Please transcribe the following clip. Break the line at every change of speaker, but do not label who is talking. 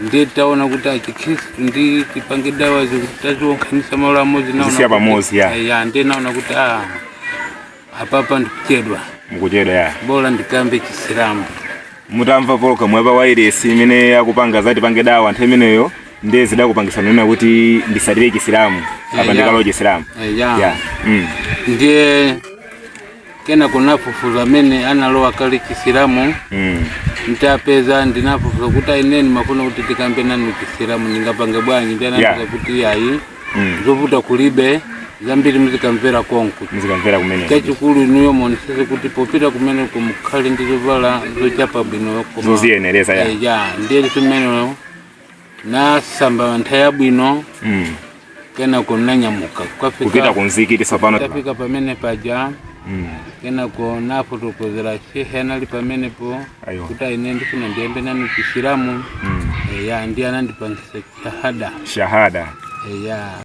ndiye
taona kuti a Chikhristu ndi Tipange Dawa zikutisonkhanitsa malo amodzi naona Sizikhala kuti- pamodzi, ya. Eh,
ya ndiye naona kuti a
apapa ndikuchedwa mukuchedwa ya
bola ndikambe
chisilamu
mutamva pologalamu yapa wairesi imene akupanga za Tipange Dawa nthawi imeneyo ndiye zidakupangisa kunena kuti ndisatire chisilamu apa ya. ndikalowe chisilamu Eh, ya. ya
mm. ndiye kenako nafufuza amene analowa kale chisilamu mm. ntapeza ndinafufuza kuti a ine ndimafuna kuti ndikambe nanu chisilamu ndingapange bwanji ndiye ananena Yeah. kuti ayi Mm. zovuta kulibe zambiri muzikamvera konku muzikamvera
kumene chachikulu
inuyo muonesese kuti popita kumeneko mukhale ndi zovala zochapa bwino koma- zoziyenereza ya Eh, ya
ndiye m'mene
nasamba nthawi yabwino mm. kenako nanyamuka kupita
kunzikiti tsopano ntafika pamene paja
mm. kenako nafotokozera shehe anali pamenepo kuti a ine ndifuna ndiyambe nanu chisilamu mm. eya ndiye
anandipangisa
shahada shahada eya